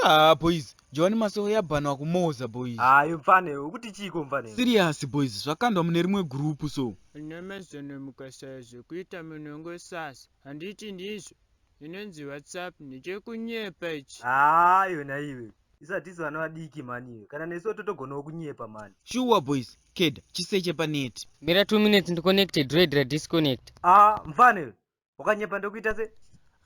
Ah, boys jowani masoro yabhanwa kumoza boys hayi mfane ukuti chiiko mfane serious boys zvakandwa mune rimwe gurupu so nyamazano mukashaya zvekuita munongosasa handiti ndizvo inonzi whatsapp ndechekunyepa ichi haa iwe naiwe isatisu vana vadiki mani iwe kana nesuwo totogonawo kunyepa mani shuwa boys keda chiseche paneti mira 2 minutes ndiconnecte dread radisconnect aa mfana iwe wakanyepa ndokuita se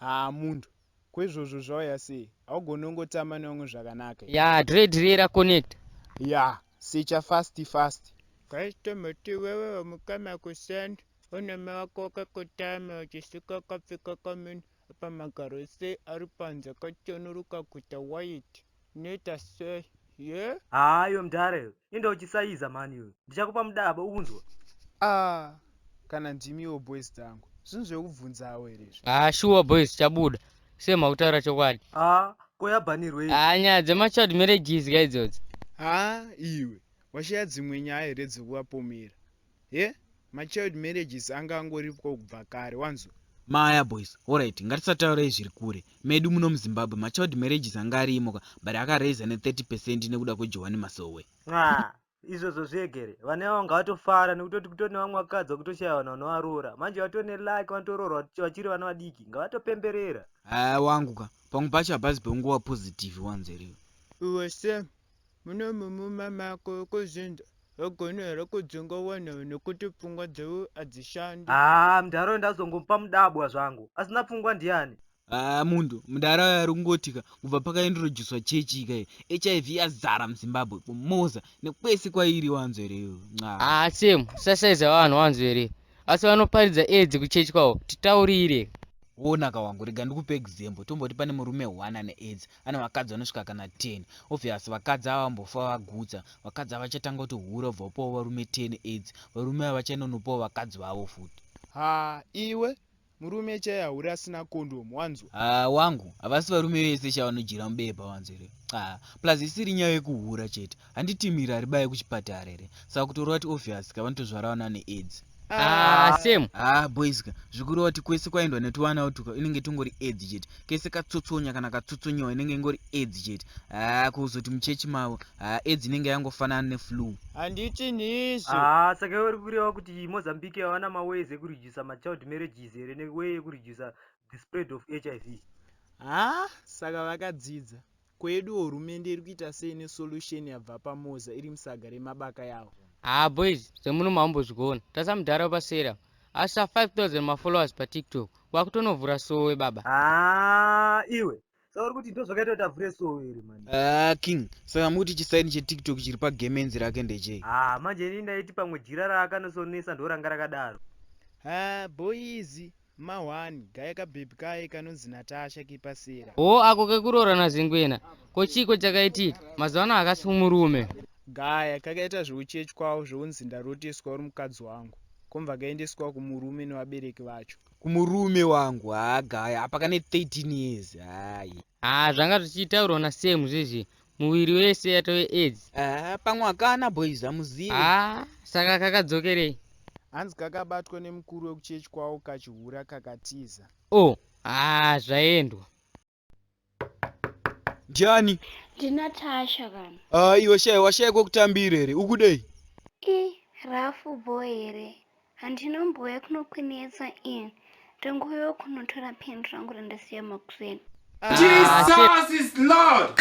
haa munhu kwezvozvo zvauya sei haugone ungotamba nevamwe zvakanaka ya dread riye raconnect ya secha fast fast customer tiwewe wamukama kusend Unema wako wakakotama uchisuka akapfeka kamini apa magaro sei ari panze akachenuruka kuita white inoita sei ye haa iwe mdhara iwe enda uchisaiza mhani iwe ndichakupa mudaba ukunzwa ah kana ndimiwo boys dzangu zvinhu zvekubvunzawo here izvi haa shuwa boys tichabuda sei makutaura chokwadi haa ko yabanirwei haa nyaya dzemachild marriages ka idzodzi haa iwe washaya dzimwe nyaya here dzekuvapomera he machild marriages anga angoripwa kubva kare wanzo maya boys orit ngatisataurei zviri kure medu muno muzimbabwe machild marriages anga ariimoka but akaraiza ne30 percent nekuda kwejohani masowe ah, izvozvo zvegere vane vavo ngavatofara nekutoti kutone vamwe vakadzi vakutoshaya vanhu vanovaroora manje vatone lake vanotoroorwa vachiri vana vadiki ngavatopemberera haa wangu ka pamwe pacho hapazi penguva positive wanzeriwe uwe same Muno mumuma mako kuzvinza hogona here kudzinga wana nekuti pfungwa dzeu adzishandi. Haa mdhara uyo ndazongomupa mudabwa zvangu asina pfungwa ndiani. Haa mundu mdara uyo arikungotika kubva pakaintroducwa church ika hiv yazara muzimbabwe kumoza nekwese kwairi wanzwa here iwe nxa. Haa Sam usashaiza vanhu wanzwa here asi vanoparidza aids kuchurch kwawo titaurire. Wonaka wangu rega ndikupe example tomboti pane murume one ane aids ane vakadzi vanosvika kana 10 obvious vakadzi ava vambofa vagutsa vakadzi ava vachatanga kuti hura obva upawo varume 10 aids varume ava vachainonopawo vakadzi vavo futi ha iwe murume chaiye hauri asina kondomu wanzwa ha wangu havasi varume vese sha vanodyira mubepa wanzwa here ha plus isiri nyaya yekuhura chete handiti miri haribaye kuchipatara here saka kutoreva kuti obvious ka vanotozvarawo nane aids Ah, ah, same ah boys ka zvikureva kuti kwese kwaendwa netuvana utuka inenge tungori aids chete kese katsotsonya kana katsotsonyewa inenge ingori aids chete ah kuzoti muchechi mavo ah aids inenge yangofanana neflu handiti ndizvo ah saka iwe uri kureva kuti mozambique havana maways ekuredusa machild marriages here neway yekuredusa the spread of hiv ah saka vakadzidza Ko yedu hurumende iri kuita sei ne solution yabva pa Moza iri musaga re mabaka yawo. Haa boys dzemuno maombozvigoona tasa mudhara wepa sera asi sa 5000 ma followers pa tiktok wakutonovhura sowe baba. Haa iwe Saka uri kuti ndozvakaita kuti avhure sowe here mani. Haa ah, king saka mukuti chisaini che tiktok chiri pa gemenzi rake ndechei. Haa ah, manje ini ndaiti pamwe jira raakanosonesa ndoranga rakadaro. Haa ah, boys Ma one kaye ka baby kaye kanonzi Natasha kipa sera. Hoo ako kekuroora na Zengwena ko chiiko chakaitika mazuva ano hakasi kumurume. Gaya kakaita zveuchechi kwavo zvounzi ndaroteswa uri mukadzi wangu komva kaendeswa kumurume nevabereki vacho. Kumurume wangu haa gaya apa kane 13 years hayi. Haa zvanga zvichitaurwa na Sam zvezvi muviri wese yatove aids ah, pamwe akana boys amuzive ah, saka kakadzokerei hanzi kakabatwa nemukuru wekuchechi kwavo kachihura kakatiza o oh, ah, zvaendwa ndiani ndinatasha kana ah, iwe shai washaya kwekutambira here ukudei i rafu bo here Handinombouya kunokwinetsa ini. Ndangouya kunotora pen rangu randasiya makuseni. Ah, Jesus is Lord.